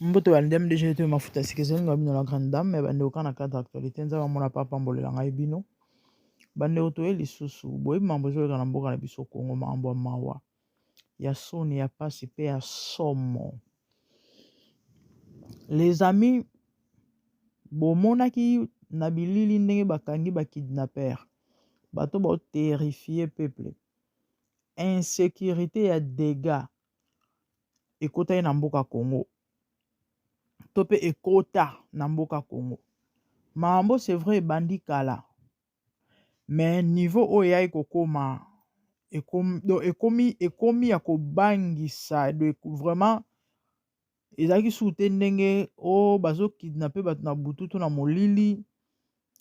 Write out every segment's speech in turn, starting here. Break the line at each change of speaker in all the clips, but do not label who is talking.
mboto ba ndem deje to mafuta sika ezali na bino la grande dame me bandeko kaka na cadre actualité nzambe amona mpe apambolela ngai bino bandeko toye lisusu boyebi mambo ezoleka na mboka na biso kongo mambo ya mawa ya soni ya mpasi mpe ya somo les amis bomonaki na bilili ndenge bakangi bakidnaper bato baoterrifie peuple insécurité ya dégats ekotaki na mboka congo to mpe ekota na mboka congo makambo c'est vrai ebandi kala me niveau oyo eyaki kokoma ekomi, ekomi, ekomi ya kobangisa de vraiment ezalaki suku te ndenge o oh, bazokidnape bato na butu to na molili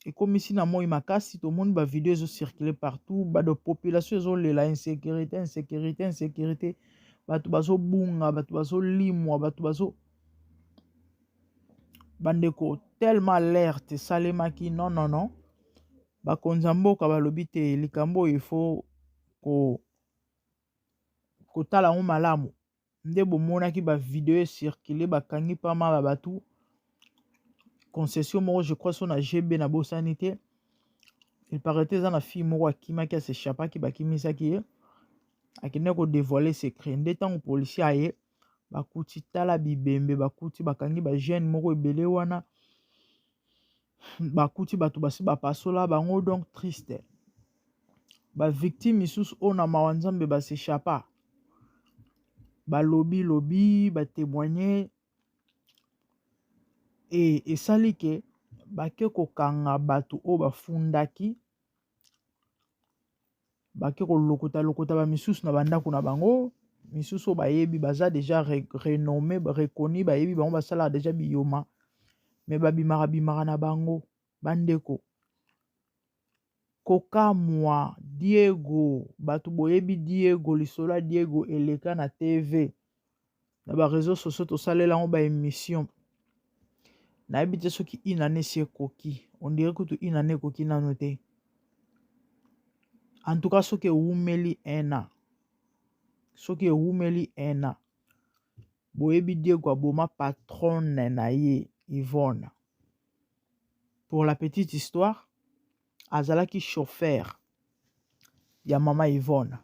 ekomisi na moi makasi tomoni bavideo ezocircule partout bado population ezolela insécurité insécurité insécurité bato bazobunga bato bazolimwa bato bazo bandeko tellement alerte esalemaki non non non bakonzi ya mboka balobi te likambo oyo ifo ko kotala yango malamu nde bomonaki ba video circule bakangi pa mala batu concession moko je crois so na gb na bosani te il paraît eza na fille moko akimaki asechapaki bakimisaki ye akendaki kodevoile secret nde ntango policier aye bakuti tala bibembe bakuti bakangi bajeune moko ebele wana bakuti bato basi bapasola bango donc triste bavictime misusu oyo na mawa nzambe basechapa balobi lobi batemoigne e esali ke bake kokanga bato oyo bafundaki bake kolokota lokota bamisusu na bandako na bango misusu oyo bayebi baza deja renomme reconi bayebi bango basalaka deja biyoma me babimaka bimaka na bango bandeko kokamwa diego bato boyebi diego lisolo ya diego eleka na tv na ba réseaux sociaux tosalela yango ba émission nayebi te soki une année si ekoki on dirait kutu une année ekoki nano te en tout cas soki ewumeli un an soki ewumeli un an boyebi diego aboma patronne na ye yvonne pour la petite histoire azalaki chauffeur ya mama yvonne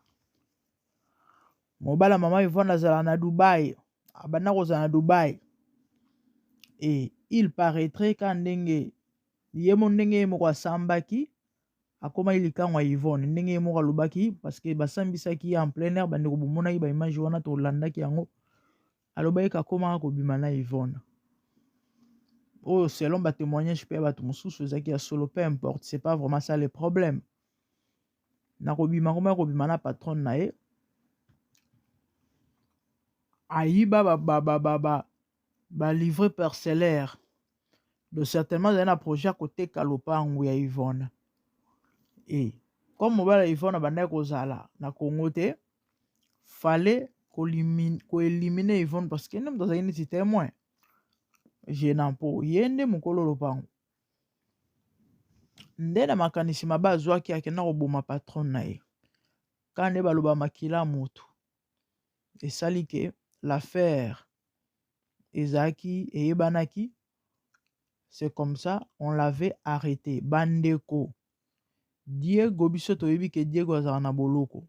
mobala mama ivone azala na dubai abanda kozala na dubai e il paraîtrait ka ndenge ye mo ndenge ye moko asambaki akomaki likango ya ivone ndenge ye moko alobaki parceke basambisaki ye en plein air bandeko bomonaki baimage wana tolandaki yango alobaki kakomaka kobima na ivone oyo selon batémoignage mpe ya bato mosusu ezalaki ya solo peu importe c'est pas vraiment ça le problème nakobima ngoma akobima na patronne na ye ayiba balivre parcellaire do certainement azali na projet ya koteka lopango ya ivona e comme mobala ya ivona abandaki kozala na congo te fale koelimine ivone parce que nde moto azali neti témoin gênant mpo ye nde mokolo lopango nde na makanisi mabe azwaki akenda koboma patron na ye ka nde baloba makila motu esali ke l'affaire ezalaki eyebanaki c'est comme ça on l'avait arrêté bandeko diego biso toyebi ke diego azala na boloko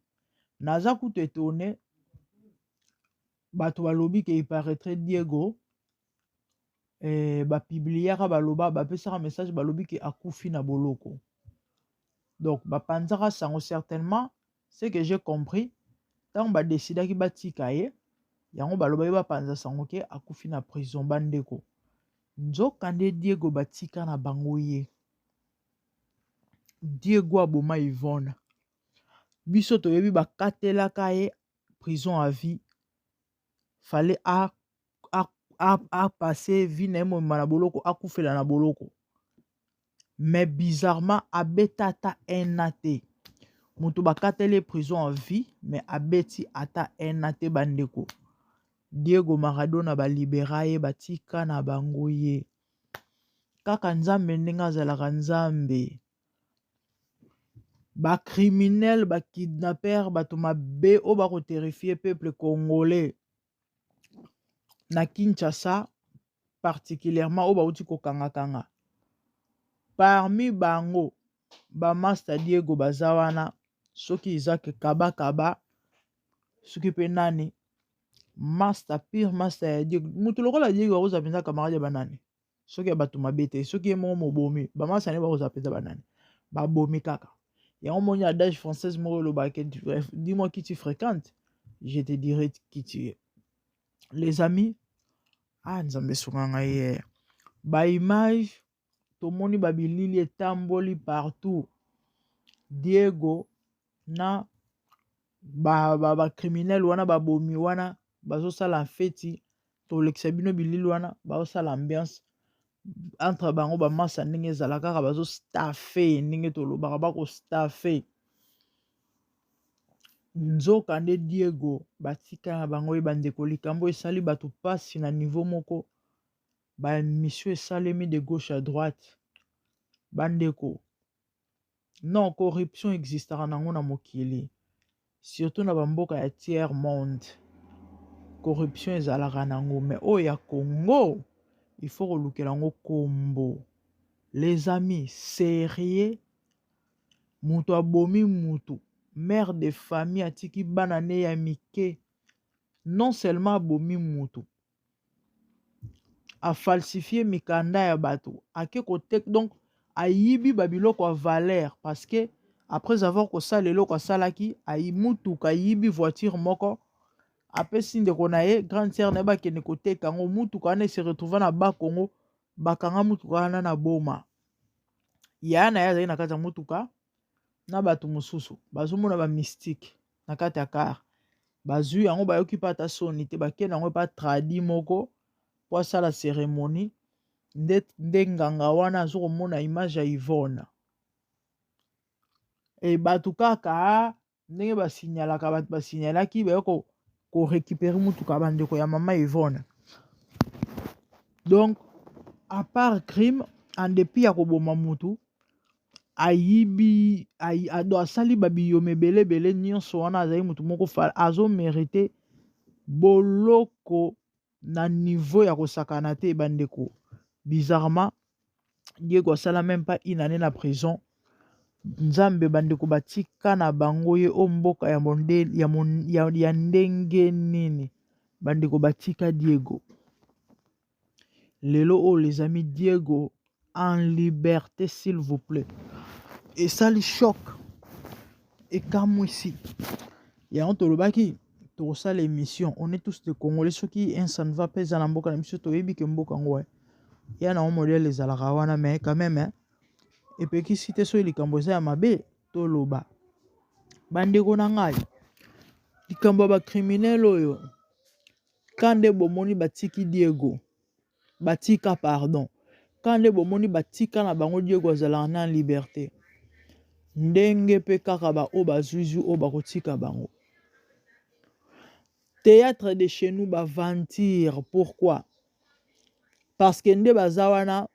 naza kutu etone bato balobi ke iparaîtrait diego eh, bapibliaka baloba bapesaka message balobi ke akufi na boloko donc bapanzaka sango certainement ce que j'ai compris ntango badesidaki batika ye yango baloba ye bapanza sango ke akufi na prison bandeko nzokande diego batika na bango ye diego aboma ivona biso toyebi bakatelaka ye prison à vie fallait a apase vie na ye mobimba na boloko akufela na boloko mais bizarrement abeta ata un a te moto bakateli ye prison en vie mais abeti ata un a te bandeko diego maradona balibera ye batika na bango ye kaka nzambe ndenge azalaka nzambe ba criminel ba kidnaper bato mabe oyo bako terrifie peuple congolais na kinshasa particulièrement oyo bauti kokangakanga parmi bango bamasta diego baza wana soki izaki kabakaba soki mpe nani masta pire masta ya diego moto lokola diego akozala mpenza camarade ya banani soki ya bato mabe te soki ye moko mobomi bamasane bakozala mpenza banani babomi kaka yango moni adage française moko elobaka dis moi qui tu fréquente je te dirai qui tu es les amis ah nzambe esunga ngai ye eh. baimage tomoni babilili etamboli partout diego na ba, ba, ba criminel wana babomi wana bazosala feti tolekisa bino bilili wana bazosala ambiance entre bango bamasa ndenge ezala kaka bazostafe ndenge tolobaka bakostafe nzoka nde diego batika na bango ye bandeko likambo esali bato mpasi na nivo moko baemisio esalemi de gauche à droite bandeko non corruption existaka nango na mokili surtout na bamboka ya tiers monde corruption ezalaka nango mais oyo ya congo il faut kolukela yango kombo les amis serieux moto abomi moto mère de famille atiki bana ne ya mike non seulement abomi moto afalsifie mikanda ya bato ake koteka donc ayibi babiloko ya valeur parce que après avoir kosala eloko asalaki ayi mutuka ayibi voiture moko apesi ndeko na ye grande sœur na ye bakende koteka yango mutuka wana ese retrouva na bakongo bakanga mutuka wana na boma yaya na ye azali na kati ya mutuka na bato mosusu bazomona bamystike na kati ya kar bazwi yango bayoki mpe ata soni te bakei na yango epa tradi moko mpo asala ceremonie nde, nde nganga wana azo komona image ya ivone e bato kaka ndenge basignalaka bato basignalaki baye korecupere motuka bandeko ya mama ivone donc apart crime en depit ya koboma motu ayibi ayi, ado asali babiyoma ebele ebele nyonso wana azali motu moko fala azo merite boloko na niveau ya kosakana te bandeko bizarrement diego asala meme pas une année na prison nzambe bandeko batika na bango ye o mboka ya, monde, ya, mon, ya, ya ndenge nini bandeko batika diego lelo oyo les amis diego en liberté s'il vous plaît esali choc ekamwisi yango tolobaki tokosala émission on est tous de congolais soki un ça ne va pas eza na mboka na biso toyebi ke mboka yango eh. ya na yango modele ezalaka wana mais quand même eh, epekisi te soki likambo eza ya mabe toloba bandeko na ngai likambo ya bacriminele oyo Kande bomoni batiki Diego batika pardon kande bomoni batika na bango Diego azalaka na liberte ndenge pe kaka ba oyo bazuizu oyo bakotika bango théâtre de chez nous ba ventir pourquoi parce que nde baza wana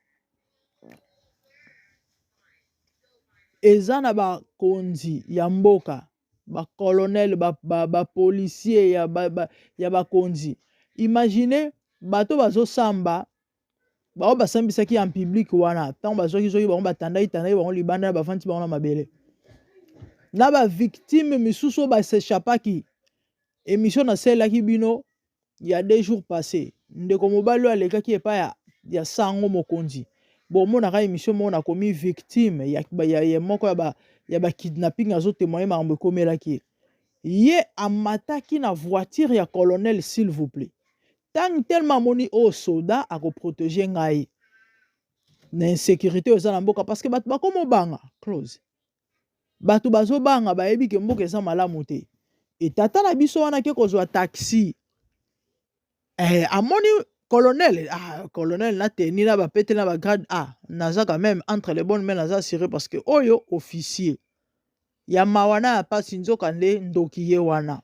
eza na bakonzi ya mboka ba colonel ba, ba, ba policier ya, ba, ba, ya bakonzi imagine bato bazosamba bango basambisaki en public wana ntango bazwaki zoki bango batandaki tandaki bango libanda na bafandi bango na mabele na bavictime misusu oyo basechapaki emission nasalelaki bino il y a deux jours passé ndeko mobali oyo alekaki epai ya, ya sango mokonzi bomonaka emission moko nakomi victime ya, ya, ya moko ya ba, ya ba kidnapping azotemoye makambo ekomelaki ye ye amataki na voiture ya colonel s'il vous plaît ntango telema amoni oyo oh, soda akoprotege ngai na insécurité oyo eza na mboka parce que bato bakoma obanga close bato bazobanga bayebi ke mboka eza malamu te etata na biso wana ke kozwa taxi eh, amoni colonel ah, colonel na teni na bapete na bagrade a ah, naza quand même entre les bonnes mais naza assuré parce que oyo officier ya mawa na ya mpasi nzoka nde ndoki ye wana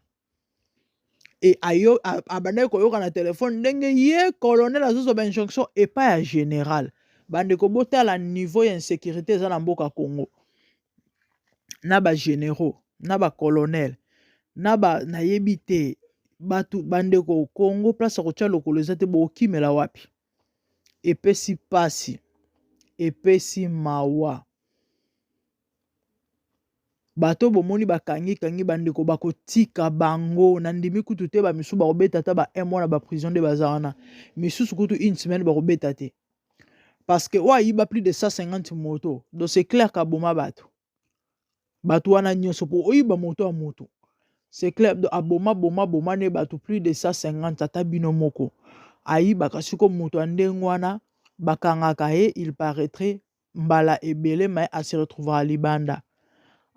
e ayo abandaki koyoka na telefone ndenge ye colonel azozo ba injonction epai ya général bandeko botala niveau ya insécurité eza na mboka congo na ba généraux na ba colonel na ba nayebi te bato bandeko congo place ya kotya lokolo eza te bokimela wapi epesi mpasi epesi mawa Bato bomoni bakangi kangi ba ndeko bakotika bango na ndimi kutu te ba misusu bakobeta ata ba un mois na ba prison nde baza wana misusu kutu une semaine bakobeta te parce que oyo ayiba plus de 150 moto donc c'est clair kaboma bato bato wana nyonso mpo oyiba moto ya moto c'est clair donc aboma boma boma ne bato plus de 150 ata bino moko ayibaka siko moto ya ndenge wana bakangaka ye il paraîtrait mbala ebele mai a se retrouvaka libanda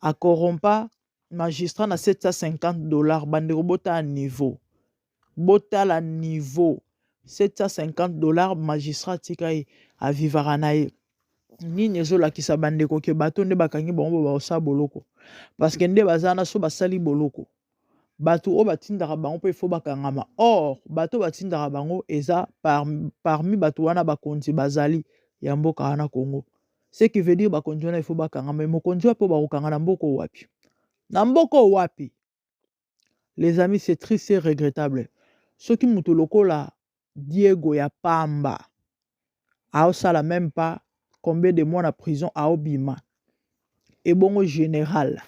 akorompa magistrat na 750 dollars bandeko botala niveau botala niveau 750 dollars magistrat atika ye avivaka na ye nini ezolakisa bandeko ke bato nde bakangi bango bo baosala boloko parceke nde baza na so basali boloko bato oyo batindaka bango mpe fo bakangama or bato oyo batindaka bango eza par, parmi bato wana bakonzi bazali ya mboka wana congo ce qui veut dire bakonzi wana ifo bakangama mokonzi wapi oyo bakokanga na mboka oyo wapi na mboka oyo wapi les amis c'est triste et regrettable soki moto lokola Diego ya pamba aosala meme pas combien de mois na prison aobima ebongo général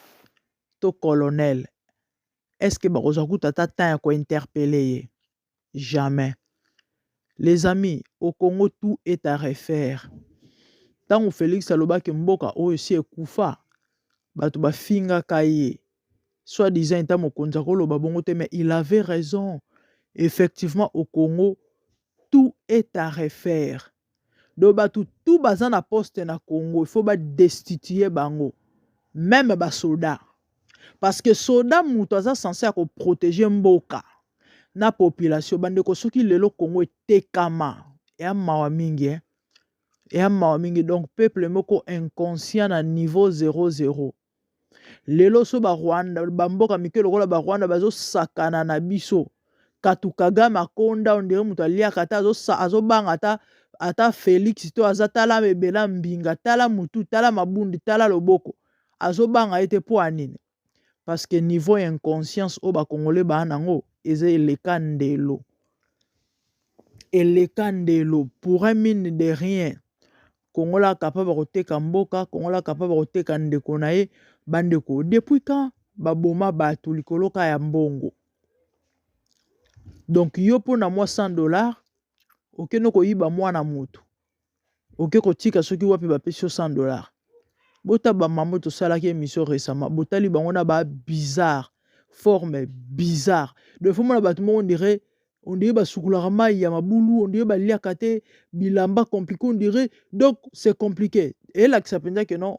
to colonel est ce que bakozwa kuta ata temps ya kointerpele ye jamais les amis au congo tout est à refaire ntango felix alobaki mboka oyo si ekufa bato bafingaka ye soit disant eta mokonzi akoloba bongo te mais il avait raison effectivement au congo tout est à refaire donc bato tout baza na poste na congo il faut badestitue bango meme basoda parce que soda moto aza sense ya koprotege mboka na population bandeko soki lelo congo etekama eya mawa mingi eh? eya mawa mingi donc peuple moko inconscient na niveau 00 lelo so barwanda bamboka mike lokola barwanda bazosakana na biso katu kagame akonda ondire moto aliaka ata azobanga ata ata felix to aza tala ebela mbinga tala mutu tala mabundi tala loboko azobanga ye te mpo ya nini parce que niveau ya inconscience oyo bakongole baa nango eza eleka ndelo eleka ndelo pour un mine de rien kongola akapa bakoteka mboka kongola akapa bakoteka ndeko na ye bandeko depuis quand baboma bato likolo ka ya mbongo donc yo mpo na mwa 100 dollar okende koyiba mwana moto oke kotika soki wapi bapesi yo 100 dollar bota bamamo tosalaki émission récemment botali bango na ba bizarre forme bizarre donc fo mona bato moko ndire on dirait basukulaka mai ya mabulu on dirait baliaka te bilamba compliqué on dirait donc c'est compliqué elakisa mpenza ke non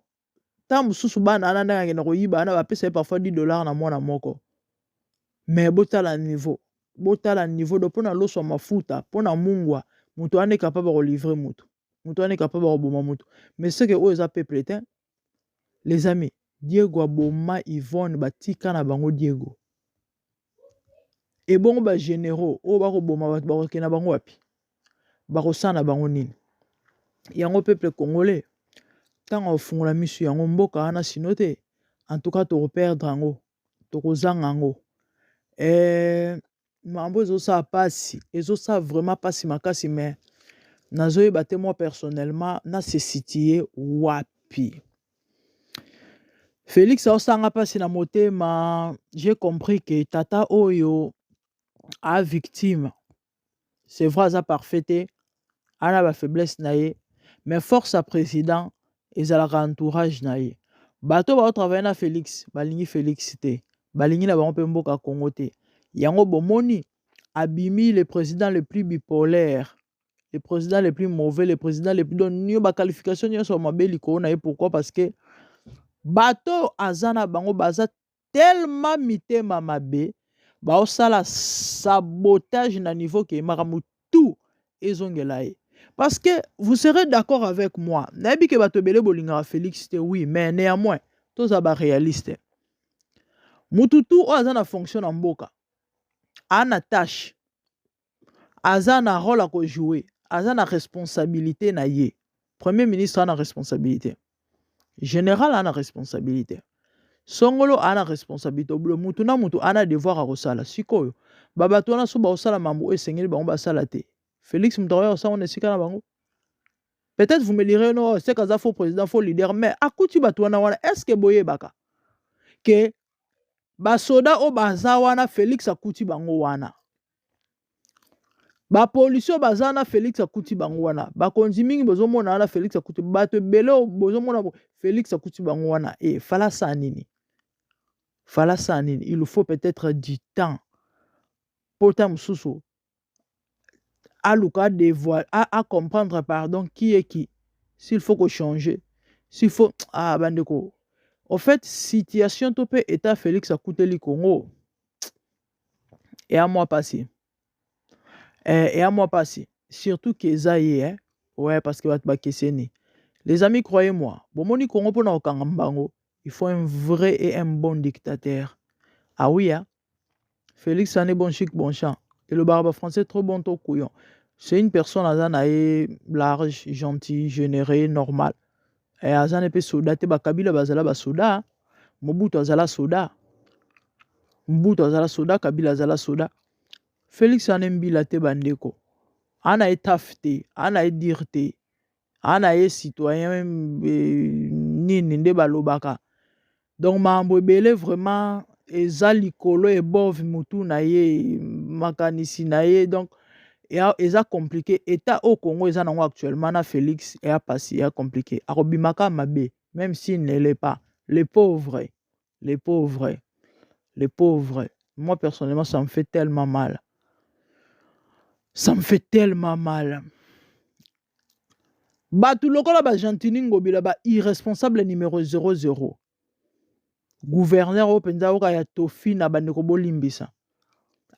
ntango mosusu bana wana ndenge akenda koyiba wana bapesa ye parfois 10 dollar na mwana moko mais botala niveau botala niveau do mpo na loso ya mafuta mpo na mungwa moto wana ekapaba kolivre moto moto wana ekapaba koboma moto mais seke oyo eza peuple te les amis diego aboma yvonne batika na bango diego ebongo bagénéraux oyo bakoboma bato bakokende na bango wapi bakosala na bango nini yango peuple congolais ntango akofungola miso yango mboka wana sino te en tout cas tokoperdre yango tokozanga yango eh, mambo ezosala mpasi ezosala vraiment mpasi makasi me nazoyeba te moi personnellement na se situe wapi felix aosanga mpasi na motema j'ai compris que tata oyo a victime c'est vrai aza parfait te ana ba faiblesse na ye mais force ya président ezalaka entourage na ye bato bao travaille na félix balingi félix te balingi na bango mpe mboka congo te yango bomoni abimi le président le plus bipolaire le président le plus mauvais le président le plus don nio baqualification nyonso ya mabe likolo na ye pourquoi parce que bato aza na bango baza tellement mitema mabe baosala sabotage na niveau ke makambo tout ezongela ye parce que vous serez d'accord avec moi nayebi ke bato ebele bolingaka félix te oui mais néanmoins toza baréaliste mutu tu oyo aza na fonction na mboka ana tâche aza na role à ko jouer aza na responsabilité na ye premier ministre a na responsabilité général a na responsabilité songolo a na responsabilité obulo mutu na mutu a na devoir ya kosala sikoyo babato wana so bakosala mambo oyo esengeli bango basala te félix moto akoya kosala na esika na bango peut-être vous me lirez no oh, seka aza faux président faux leader mais akuti bato wana wana est ce que boyebaka ke basoda oyo baza wana félix akuti bango wana ba policiers baza na Felix akuti bango wana bakonzi mingi bozomona wana Felix akuti bato ebele oyo bozomona bo- Felix akuti bango wana e fala saa nini fala saa nini il faut peut-être du temps mpo ta mosusu aluka devoir a, a comprendre pardon qui est qui s'il faut ko changer s'il faut ah bandeko au fait situation to mpe état Felix akuteli Congo eya mwa pasi eh, eya mwa pasi surtout ke eza ye eh? ouais parce que bato bakeseni les amis croyez moi bomoni kongo mpona kokanga mbango il faut un vrai et un bon dictateur ah oui hein? félix ane bon chic bon champ elobaka bafrançais trop bon to couillon c'est une personne aza na ye large gentil généré normal eh, aza ne mpe soda te bakabila bazala basoda mobutu azala soda mobutu azala soda kabila azala soda felix ana embila te bandeko ana ye taf te ana ye dire te ana ye citoyen eh, nini nde balobaka Donc makambo ebele vraiment eza likolo ebove mutu na ye makanisi na ye donc ya- eza compliqué etat oyo congo eza nango actuellement na félix eya pasi eya compliqué akobimaka mabe même s'il ne l'est pas le pauvre le pauvre le pauvre moi personnellement ça me fait tellement mal ça me fait tellement mal bato lokola ba gentini ngobila ba irresponsable numero 00 guverner oyo mpenza oka ya tofi na bandeko bolimbisa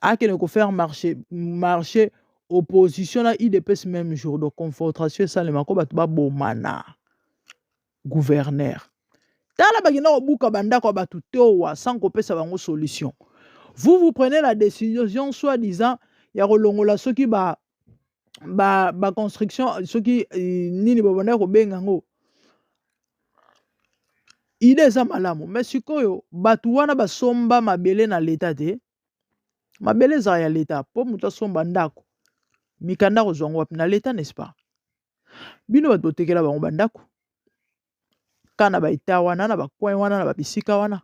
akende kofaire marché marché opposition na idps même jour de confrontation esalema ko bato babomana gouverneur tala bakenda kobuka bandako ya bato towa sans kopesa bango solution vous vous prenez la décision soit disant ya kolongola soki ba ba ba construction soki eh, nini babandaki kobenga yango ide eza malamu me sikoyo bato wana basomba mabele na leta te mabele ezala ya leta mpo moto asomba ndako mikanda kozwa yango wapi na leta n'est-ce pas bino bato botekela bango bandako ka na baeta wana na bacoin wana na babisika wana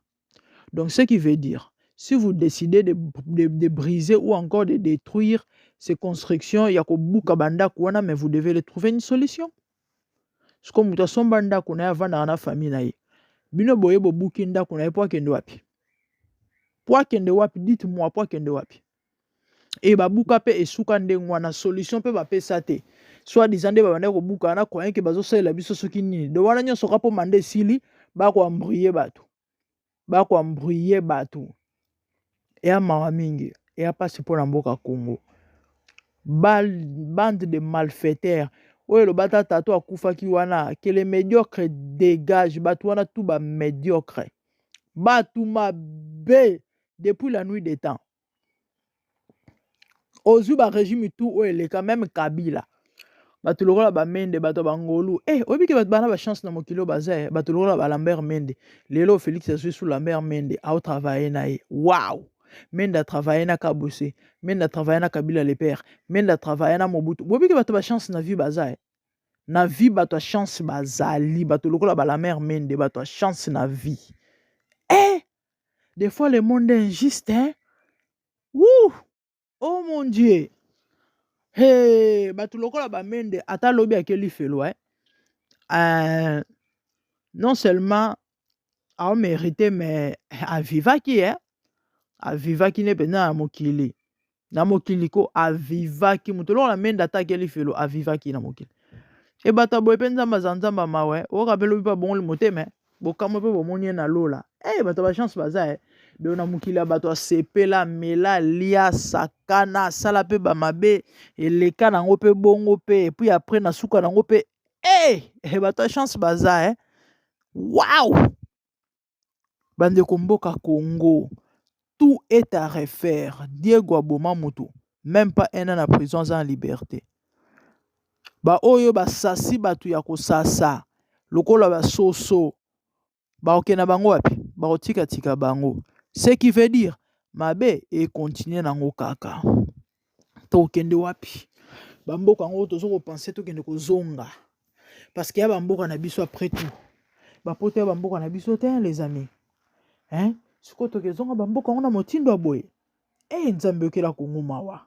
donc ce qui veut dire si vous décidez de, de, de briser ou encore de détruire ces constructions ya kobuka bandako wana mais vous devez le trouver une solution siko moto asomba ndako na ye avandaka na famille na ye bino boye bobuki ndako na ye mpo akende wapi mpo akende wapi dite moi mpo akende wapi et babuka pe esuka ndenge wana solution pe bapesa te soit disant nde babandaki kobuka na croyant ke bazosalela biso soki nini do wana nyonso ka mpo manda esili bakoambruye bato bakoambruye bato eya mawa mingi eya mpasi mpo na mboka congo bande de malfaiteurs oyo eloba ta tato akufaki wana que le médiocre dégage bato wana tu ba médiocre bato mabe depuis la nuit des temps ozwi barégime tout oyo eleka meme kabila bato lokola bamende bato ya bangolu e eh, oyebi ke bato bana bachance na mokili oyo baza eh, bato lokola balambert mende lelo félix azwi su lambert mende aotravaille na ye waw mende atravaille na kabuse mende atravaille na kabila le père mende atravaille na mobutu boyebi ke bato bachance na vie baza e na vie bato ya chance bazali bato lokola balamer mende bato ya chance na vie e Des fois, le monde est injuste, hein? Ouh! Oh mon Dieu! Hey, bato lokola bamende ata lobi ake lifelo eh? euh, non seulement aomérite mais avivaki eh? avivaki nde mpenza na mokili na mokili ko avivaki moto eloko na menda ataki elifelo avivaki na mokili ebata boye mpe nzambe aza nzambe mawe oyoka mpe lobi mpe abongoli motema bokamwe mpe bomoni ye na lola e eh, bato bachance baza e eh. donc na mokili ya bato asepela mela lia sakana asala mpe bamabe eleka na yango mpe bongo mpe epuis apres na suka na yango mpe e eh, bato ya chance baza e waw bandeko mboka congo tout est à refaire diego aboma moto meme pas un an na prison aza na liberté baoyo basasi bato ya kosasa lokola basoso baoke na bango wapi baotikatika bango ce qui veut dire mabe ekontinue nango kaka tokende wapi bamboka yango tozo kopense tokende kozonga parce que ya bamboka na biso après tout bapoto ya bamboka na biso te les amis hein sikoyo tokezonga bamboka yango na motindo ya boye e nzambe yokela kongo mawa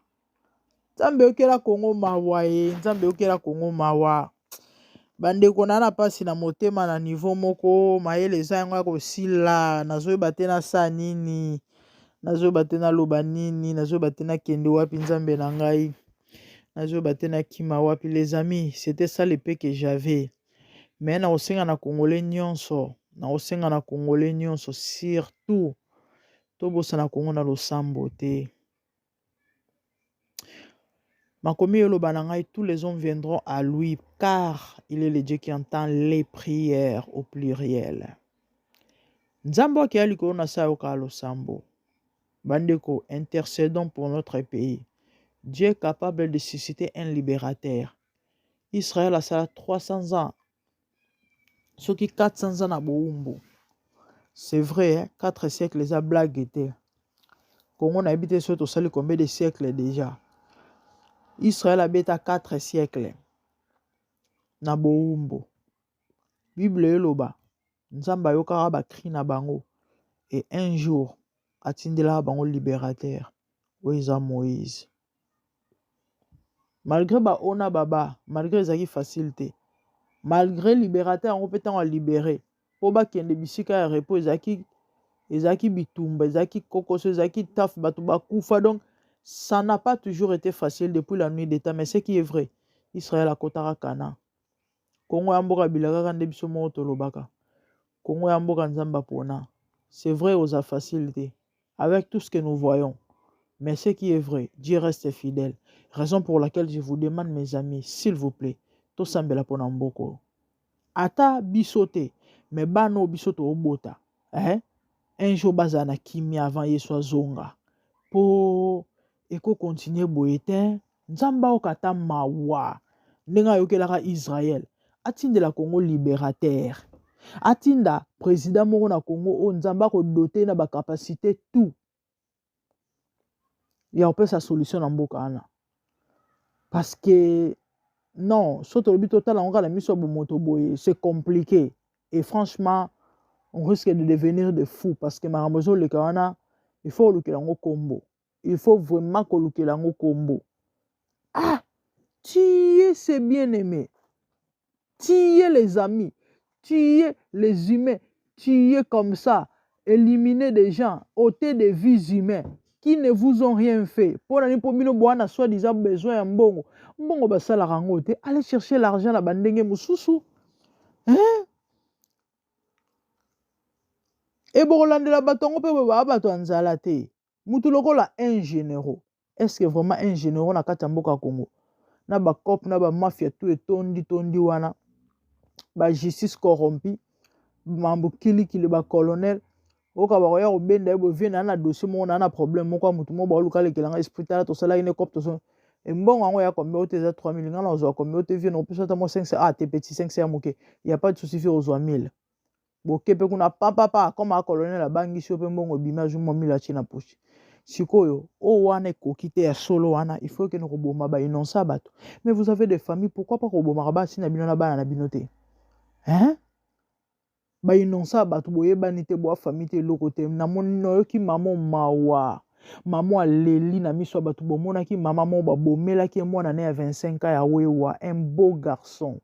nzambe yokela kongo mawa e nzambe yokela kongo mawa bandeko na na mpasi na motema na nivo moko mayele eza yango ya kosila nazoyeba te nasala nini nazoyeba te naloba nini nazoyeba te nakende wapi nzambe na ngai nazoyeba te nakima wapi les amis c'était ça le pe que j'avais mais nakosenga na congolais nyonso nakosenga na congolais nyonso surtout tobosana kongo na losambo te Makomi eloba na ngai tous les hommes viendront à lui car il est le Dieu qui entend les prières au pluriel. Nzambo akeya likolo na sayo ka losambo. Bandeko, intercédons pour notre pays. Dieu est capable de susciter un libérateur. Israël asala 300 ans soki 400 za na bowumbu c'est vrai hein? 4 siècle eza blague te kongo nayebi te soki tosali combien de siècle déjà israel abeta 4 siècle na bowumbu bible eloba nzambe ayokaka bacri na bango e un jour atindelaka bango libérateur oyo eza moïse malgré baona baba malgré ezalaki facile te malgré libérateur yango mpe ntango alibere mpo bakende bisika ya repos ezalaki ezalaki bitumba ezalaki kokoso ezalaki taf bato bakufa donc ça n'a pas toujours été facile depuis la nuit d'état mais ce qui est vrai israel akotaka canaan Congo ya mboka bilakaka nde biso moko tolobaka. Congo ya mboka Nzambe apona. C'est vrai oza facile te. Avec tout ce que nous voyons. Mais ce qui est vrai, Dieu reste fidèle. Raison pour laquelle je vous demande mes amis, s'il vous plaît, tosambela pona mboko. Ata biso te, mais bano biso to obota. Hein? Un jour baza na kimia avant Yesu azonga. Po eko continuer boye te, Nzambe ayoka ata mawa ndenge ayokelaka Israël, atindela Congo liberateur. Atinda president moko na Congo oyo Nzambe akodote na bacapacité tout ya kopesa solution na mboka wana parce que non so tolobi totala yango kaka na miso ya bomoto boye c'est compliqué et franchement on risque de devenir de fou parce que makambo ezoleka wana il faut olukela yango nkombo il faut vraiment kolukela yango kombo ah tiye se bien aime tiye les amis tiye les humains tiye comme ça éliminer des gens ôter des vies humains qui ne vous ont rien fait mpo na nini mpo bino boa na soi disant besoin ya mbongo mbongo basalaka yango te allez chercher l'argent na bandenge mosusu hein? ebokolandela bato yango mpe boye baa bato ya nzala te mutu lokola un généraux est ce que vraiment un généraux na kati ya mboka congo na bacop na bamafia tu etondi tondi wana bajustice corrompu mambo kilikili bacolonel oyoka bakoya kobenda ye bovie naa na dossier moko naa na problème moko ya motu moko baoluka alekela ngai esprit tala tosalaki ne cop toso embongo yango ya combien ote eza 3000 ngai na ozwa combien ote vie na opesa ata mwa 500 ah te petit 500 ya moke ya pas de souci vie ozwa 1000 bokepe kuna papapa akoma colonel abangisi yo mpe mbongo ebimi azwi mwa milo atie na poche sikoyo oyo wana ekoki te ya solo wana il faut ekende koboma bainonce ya bato mais vous avez des famille pourquoi pas kobomaka basi na bino na bana na bino te hein bainonce ya bato boyebani te boa famille te eloko te namoni nayoki mamo mawa mamo aleli na miso ya bato bomonaki mama moko babomelaki ye mwana ne ya 25 ans ya wewa un beau garçon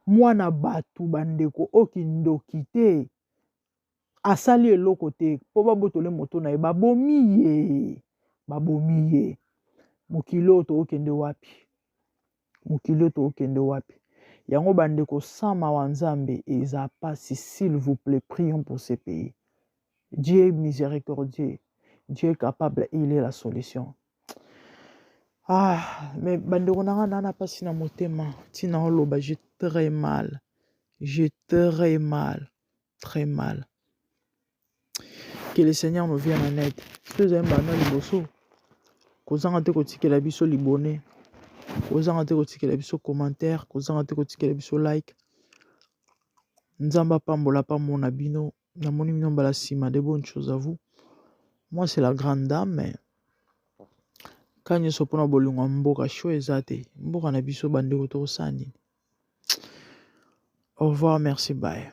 Mwana batu ba ndeko oyo kindoki te asali eloko te po ba botole moto na ye ba bomi ye ba bomi ye mokili oyo tokokende wapi mokili oyo tokokende wapi yango ba ndeko sans mawa nzambe eza pasi s'il vous plaît prions pour ce pays Dieu miséricordieux Dieu capable il est la solution ah mais bandeko na nga naa na mpasi na motema ntina oloba je très mal je très mal très mal que le seigneur nous vienne en aide soki ezali mbanda liboso kozanga te kotikela biso libone kozanga te kotikela biso commentaire kozanga te kotikela biso like nzambe apambola pamona bino namoni bino mbala nsima de bonne chose à vous moi c'est la grande dame mais ka nyonso mpona bolingo ya mboka sho eza te mboka na biso bandeko tokosala nini au revoir merci baye